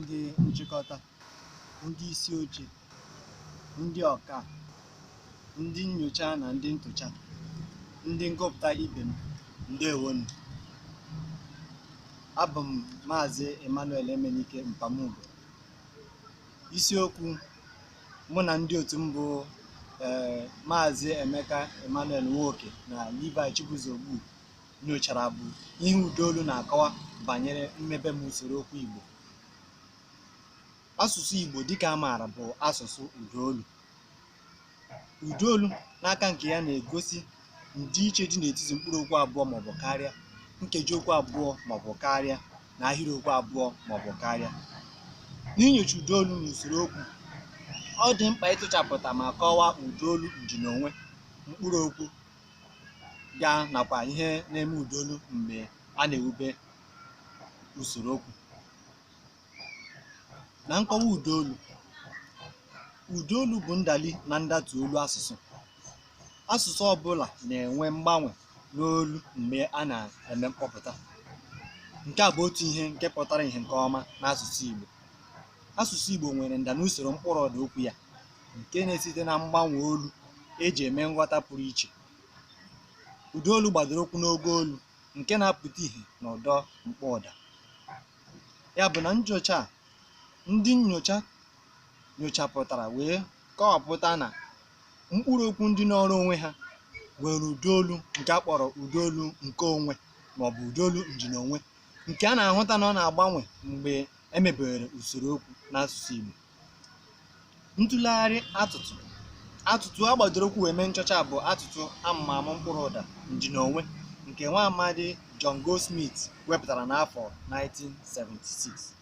ndị nchịkọta ndị isi oche ndị ọka ndị nnyocha na ndị ntụcha ndị ngụpụta ibe m ndewonu abụ m maazị emmanuel emenike mpamugo isiokwu mụ na ndị otu m bụ ee maazị emeka emmanuel nwoke na levi chibuzo ogbu nyochara bụ ihe ụdaolu na-akọwa banyere mmebe m usoro okwu Igbo. Asụsụ Igbo dịka a maara bụ asụsụ ụdaolu. Ụdaolu n'aka nke ya na-egosi ndịiche dị n'etiti mkpụrụ okwu abụọ maọbụ karịa, nkeji okwu abụọ maọbụ karịa na ahịrịokwu abụọ maọbụ karịa. N'inyocha ụdaolu n'usoro okwu, ọ dị mkpa ịtụchapụta ma kọwaa ụdaolu ndịnonwe mkpụrụ okwu ya nakwa ihe na-eme ụdaolu mgbe a na-ewube usoro okwu na nkọwa ụdaolu ụdaolu bụ ndali na ndatu olu asụsụ asụsụ ọbụla na-enwe mgbanwe n'olu mgbe a na-eme mkpọpụta nke a bụ otu ihe nke pụtara ihe nke ọma n'asụsụ Igbo asụsụ Igbo nwere nda n'usoro mkpụrụ ụda okwu ya nke na-esite na mgbanwe olu eji eme nghọta pụrụ iche. Ụda olu gbadoro ụkwụ n'ogo olu nke na-apụta ihe n'ụdọ mkpọụda. Ya bụ na nnyocha a, ndị nnyocha nyochapụtara wee kọwapụta na mkpụrụ okwu ndị nọọrọ onwe ha nwere ụda olu nke a kpọrọ ụda olu nke onwe maọbụ ụda olu ndịnonwe nke a na-ahụta na ọ na-agbanwe mgbe e mebere usoro okwu n'asụsụ Igbo. ntụlegharị atụtụ atụtụ a gbadoro ụkwụ wee mee nchọcha bụ atụtụ amụmamụ mkpụrụ ụda ndịnonwe nke nwa amadi John Goldsmith wepụtara n'afọ 1976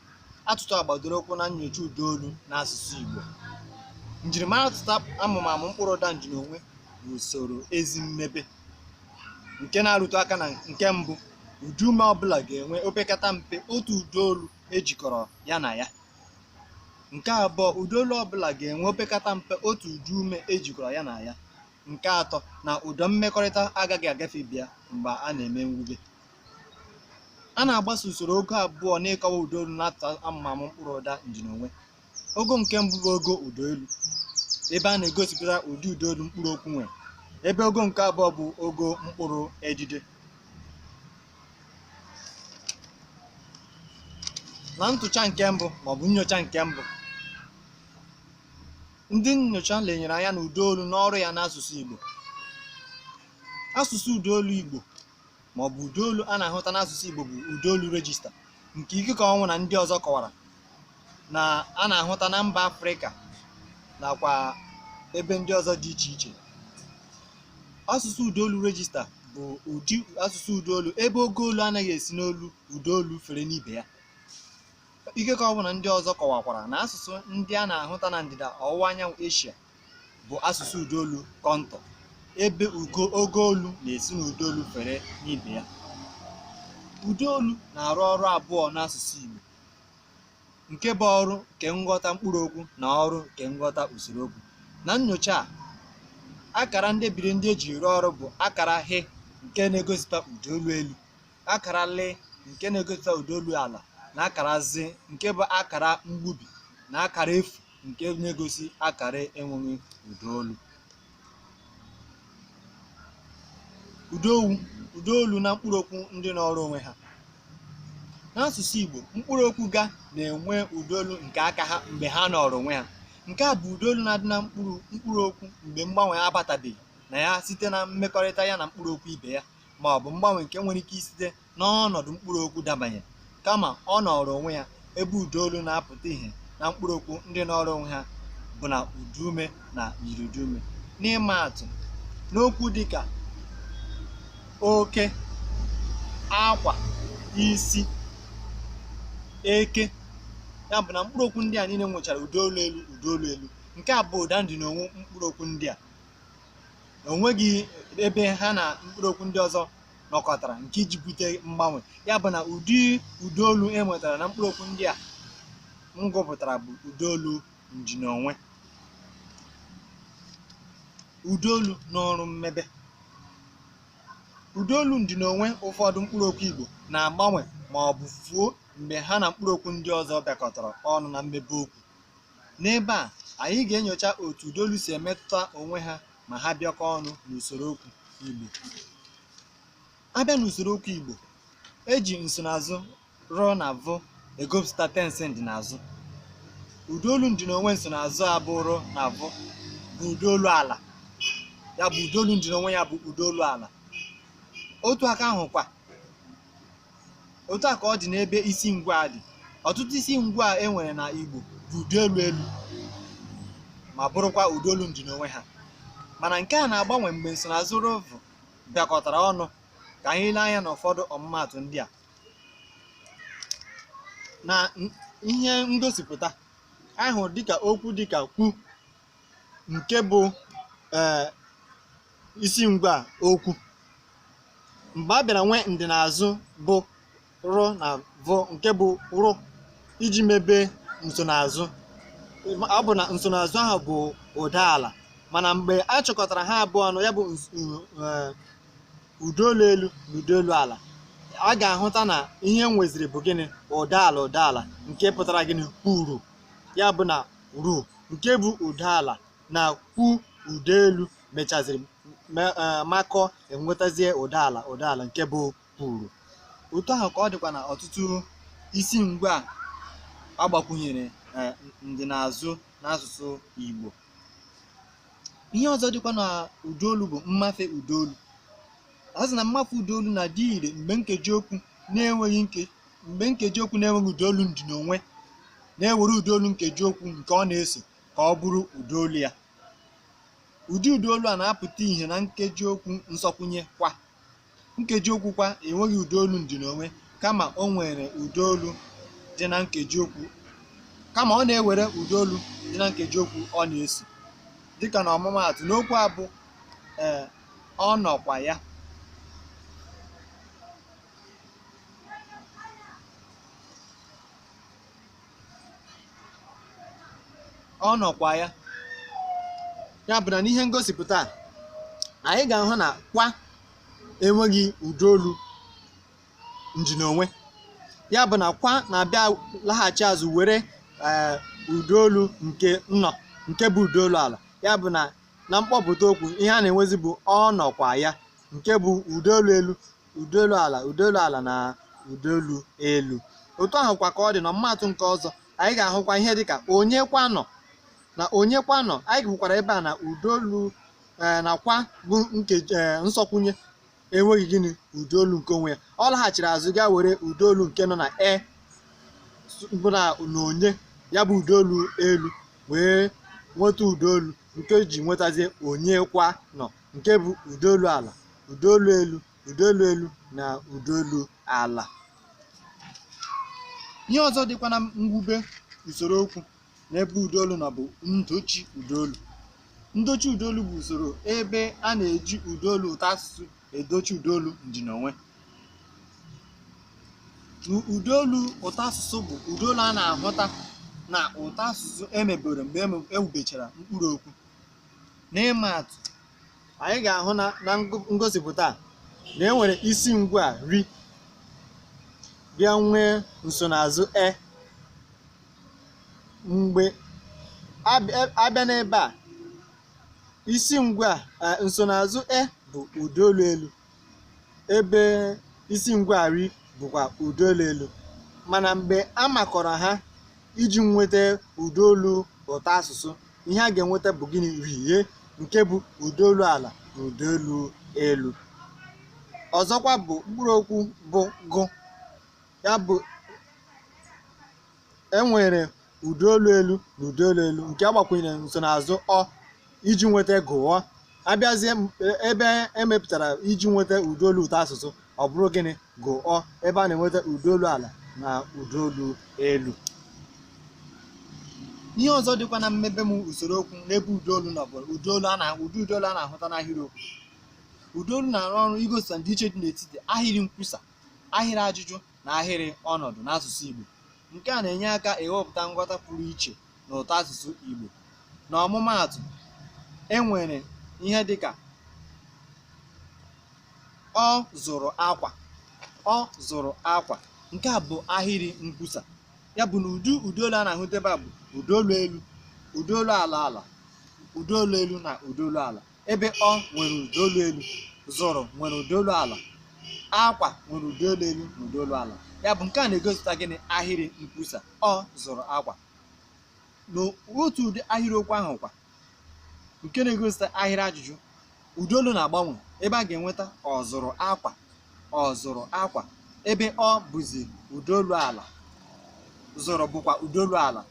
atụtụ a gbadoro ụkwụ na nyocha ụda olu n'asụsụ Igbo njirimara atụtụ amụmamụ mkpụrụ ụda ndịnonwe bụ usoro ezi mmebe nke na-arụtụ aka na nke mbụ ụdaume ọbụla ga-enwe opekata mpe otu ụda olu ejikọrọ ya na ya nke abụọ ụda olu ọbụla ga-enwe opekata mpe otu ụdaume ejikọrọ ya na ya nke atọ na ụdọ mmekọrịta agaghị agafe ibe ya mgbe a na-eme mwube a na-agbaso usoro ogo abụọ n'ịkọwa ụda olu n'atụtụ amụmamụ mkpụrụ ụda ndịnonwe ogo nke mbụ bụ ogo ụda olu ebe a na-egosipụta ụdị ụda olu mkpụrụ okwu nwere ebe ogo nke abụọ bụ ogo mkpụrụ edide na ntụcha nke mbụ maọbụ nyocha nke mbụ ndị nyocha lenyere anya na ụdaolu na ọrụ ya n'asụsụ Igbo asụsụ ụdaolu Igbo maọbụ ụdaolu a na-ahụta n'asụsụ Igbo bụ ụdaolu rejista nke Ikekeonwu na ndị ọzọ kọwara na a na-ahụta na mba afrịka nakwa ebe ndị ọzọ dị iche iche asụsụ ụdaolu rejista bụ ụdị asụsụ ụdaolu ebe ogo olu anaghị esi n'olu ụdaolu fere n'ibe ya Ikekeonwu na ndị ọzọ kọwakwara na asụsụ ndị a na-ahụta na ndịda ọwụwa anyanwụ eshia bụ asụsụ ụdaolu kọntọ ebe ugo ogo olu na-esi n'ụdaolu fere n'ibe ya ụdaolu na-arụ ọrụ abụọ n'asụsụ igbo nke bụ ọrụ nke nghọta mkpụrụ okwu na ọrụ nke nghọta usoro okwu na nnyocha a akara ndebiri ndị eji rụọ ọrụ bụ akara H nke na-egosipụta ụda olu elu akara L nke na-egosipụta ụda olu ala na akara Z nke bụ akara mgbubi na akara efu nke na-egosi akara enweghị ụda olu Ụdaolu, ụdaolu na mkpụrụokwu ndị nọọrọ onwe ha. N'asụsụ Igbo, mkpụrụokwu ga na-enwe ụdaolu nke aka ha mgbe ha nọọrọ onwe ha. Nke a bụ ụdaolu na-adị na mkpụrụ mkpụrụokwu mgbe mgbanwe abatabeghị na ya site na mmekọrịta ya na mkpụrụokwu ibe ya ma ọ bụ mgbanwe nke nwere ike isite n'ọnọdụ mkpụrụ okwu dabanye kama ọ nọrọ onwe ya ebe ụda olu na-apụta ihe na mkpụrụ okwu ndị nọrọ onwe ha bụ na ụdaume na myiriụdaume n'ịma atụ n'okwu dịka oke akwa isi eke ya bụ na mkpụrụ okwu ndị a niile nwechara ụda olu elu ụda olu elu nke a bụ ụda ndịnonwe mkpụrụ okwu ndị a onweghị ebe ha na mkpụrụ okwu ndị ọzọ nọkọtara nke iji bute mgbanwe ya bụ na ụdị ụdaolu e nwetara na mkpụrụ okwu ndị a m gụpụtara bụ ụdaolu ndịnonwe ụdaolu n'ọrụ mmebe ụdaolu ndịnonwe ụfọdụ mkpụrụ okwu Igbo na-agbanwe ma ọ bụ fuo mgbe ha na mkpụrụ okwu ndị ọzọ bịakọtara ọnụ na mmebe okwu n'ebe a anyị ga-enyocha otu ụdaolu si emetụta onwe ha ma ha bịakọ ọnụ n'usoro okwu Igbo abịa n'usoro okwu Igbo eji nsonaazụ r na v egosipụta tensị ndịnazụ ụdaolu ndịnonwe nsonaazụ a bụ r na v bụ ụdaolu ala ya bụ ụdaolu ndịnonwe ya bụ ụdaolu ala otu aka ahụ kwa otu a ka ọ dị n'ebe isi ngwaa dị ọtụtụ isi ngwaa e nwere na Igbo bụ ụda olu elu ma bụrụkwa ụda olu ndịnonwe ha mana nke a na-agbanwe mgbe nsonaazụ rụ vụ bịakọtara ọnụ ka anyị lee anya n'ụfọdụ ọmụmaatụ ndị a na n- ihe ngosipụta anyị hụrụ dịka okwu dịka kwu nke bụ ee isi ngwaa okwu mgbe a bịara nwee ndịnaazụ bụ rụ na vụ nke bụ ru iji mebe nsonaazụ ọ bụ na nsonaazụ ahụ bụ ụda ala mana mgbe a chịkọtara ha abụọ ọnụ ya bụ ns- n- eh, ụda olu elu na ụda olu ala a ga-ahụta na ihe e nweziri bụ gịnị ụda ala ụda ala nke pụtara gịnị kwuru ya bụ na ru nke bụ ụda ala na kwu ụda elu mechaziri me- eh, makọọ e nwetazie ụda ala ụda ala nke bụ kwuru otu ahụ ka ọ dịkwa na ọtụtụ isi ngwaa a gbakwụnyere eh, ndịnaazụ n'asụsụ Igbo ihe ọzọ dịkwa na ụda olu bụ mmafe ụda olu a sị na mmafe ụda olu na-adị ire mgbe nkeji okwu na-enweghị nke mgbe nkeji okwu na-enweghị ụda olu ndịnonwe na-ewere ụda olu nkeji okwu nke ọ na-eso ka ọ bụrụ ụda olu ya ụdị ụda olu a na-apụta ihe na nkeji okwu nsokwụnye kwa nkeji okwu kwa enweghị ụda olu ndịnonwe kama o nwere ụda olu dị na nkeji okwu kama ọ na-ewere ụda olu dị na nkeji okwu ọ na-eso dịka na ọmụmaatụ n'okwu a bụ ee ọ nọkwa ya ọ nọkwa ya ya bụ na n'ihe ngosipụta a, anyị ga-ahụ na kwa enweghị ụda olu ndịnonwe ya bụ na kwa na-abịa laghachi azụ were ee, ụda olu nke nọ nke bụ ụda olu ala ya bụ na na mkpọpụta okwu ihe a na-enwezi bụ ọ nọkwa ya nke bụ ụda olu elu ụda olu ala ụda olu ala na ụda olu elu otu ahụ kwa ka ọ dị na ọmụmaatụ nke ọzọ anyị ga-ahụkwa ihe dịka onye kwa nọ na onye kwa nọ anyị hụkwara ebe a na ụda olu ee na kwa bụ nkeji ee nsokwụnye enweghị gịnị ụda olu nke onwe ya ọ laghachiri azụ gaa were ụda olu nke nọ na e s- bụ na na onye ya bụ ụda olu elu wee nweta ụda olu nke o ji nwetazie onye kwa nọ nke bụ ụda olu ala ụda olu elu ụda olu elu na ụda olu ala ihe ọzọ dịkwa na mwube usoro okwu n'ebe ụda olu nọ bụ ndochi ụda olu ndochi ụda olu bụ usoro ebe a na-eji ụda olu ụtọ asụsụ edochi ụda olu ndịnonwe U- ụda olu ụtọ asụsụ bụ ụda olu a na-ahụta na ụtọ asụsụ emebere mgbe eme- ewubechara mkpụrụ okwu n'ịma atụ anyị ga-ahụ na na ngụ- ngosipụta a na e nwere isi ngwa a ri bịa nwee nsonaazụ e mgbe abịa abịa n'ebe a isi ngwa a, eh, nsonaazụ e bụ ụda olu elu ebe isi ngwa ri bụkwa ụda olu elu mana mgbe a makọrọ ha iji nweta ụda olu ụtọ asụsụ ihe a ga-enweta bụ gịnị rie nke bụ ụda olu ala na ụda olu elu ọzọkwa bụ mkpụrụ okwu bụ gụ ya bụ enwere ụda olu elu na ụda olu elu nke agbakwunyere nsonaazụ ọ iji nweta gụọ abịazie m- e- ebe emepụtara iji nweta ụda olu ụtọ asụsụ ọ bụrụ gịnị gụọ ebe a na-enweta ụda olu ala na ụda olu elu ihe ọzọ dịkwa na mmebe m usoro okwu n'ebe ụda olu nọ bụ ụda olu a na ụdị ụda olu a na-ahụta n'ahịrịokwu ụda olu na-arụ ọrụ igosipụta ndịiche dị n'etiti ahịrị nkwusa ahịrị ajụjụ na ahịrị ọnọdụ n'asụsụ Igbo nke a na-enye aka ewepụta nghọta pụrụ iche na ụtọ asụsụ Igbo na ọmụmaatụ e nwere ihe dịka ọ zụrụ akwa ọ zụrụ akwa nke a bụ ahịrị nkwusa ya bụ na ụdị ụda olu a na-ahụta ebe a bụ ụda olu elu ụda olu ala ala ụda olu elu na ụda olu ala ebe ọ nwere ụda olu elu zụrụ nwere ụda olu ala akwa nwere ụda olu elu na ụda olu ala ya bụ nke a na-egosipụta gịnị ahịrị nkwusa ọ zụrụ akwa n'otu ụdị ahịrịokwu ahụ kwa nke na-egosipụta ahịrị ajụjụ ụda olu na-agbanwe ebe a ga-enweta ọ zụrụ akwa ọ zụrụ akwa ebe ọ bụzi ụda olu ala zụrụ bụkwa ụda olu ala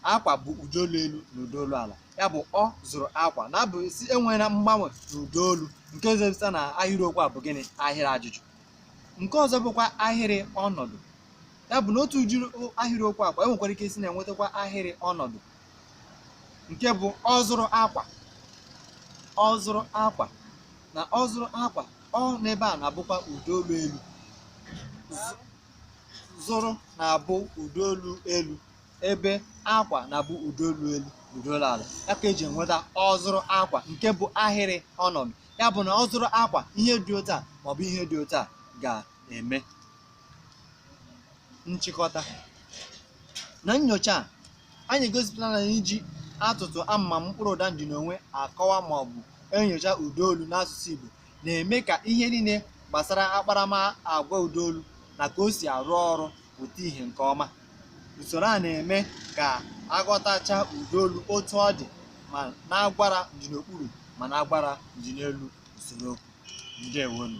akwa bụ ụda olu elu na ụda olu ala ya bụ ọ zụrụ akwa na-abụzi enweela mgbanwe na ụda olu nke gosipụta na ahịrịokwu a bụ gịnị ahịrị ajụjụ nke ọzọ bụkwa ahịrị ọnọdụ ya bụ na otu ụdị ahịrịokwu a kwa enwekwara ike isi na-enwetakwa ahịrị ọnọdụ nke bụ ọ zụrụ akwa ọ zụrụ akwa na ọ zụrụ akwa ọ n'ebe a na-abụkwa ụda olu elu zụrụ na-abụ ụda olu elu ebe akwa na-abụ ụda olu elu ụda olu ala ya ka eji enweta ọ zụrụ akwa nke bụ ahịrị ọnọdụ ya bụ na ọ zụrụ akwa ihe dị otu a maọbụ ihe dị otu a ga-eme nchịkọta na nyocha a anyị egosipụtala na iji atụtụ amụmamụ mkpụrụ ụda ndịnonwe akọwa maọbụ enyocha ụda olu n'asụsụ Igbo na-eme ka ihe niile gbasara akparamagwa ụda olu na ka o si arụ ọrụ pụta ihe nke ọma usoro a na-eme ka aghọtacha ụda olu otu ọ dị ma n'agwara ndịnokpuru ma n'agwara ndịnelu usoro okwu ndewo nụ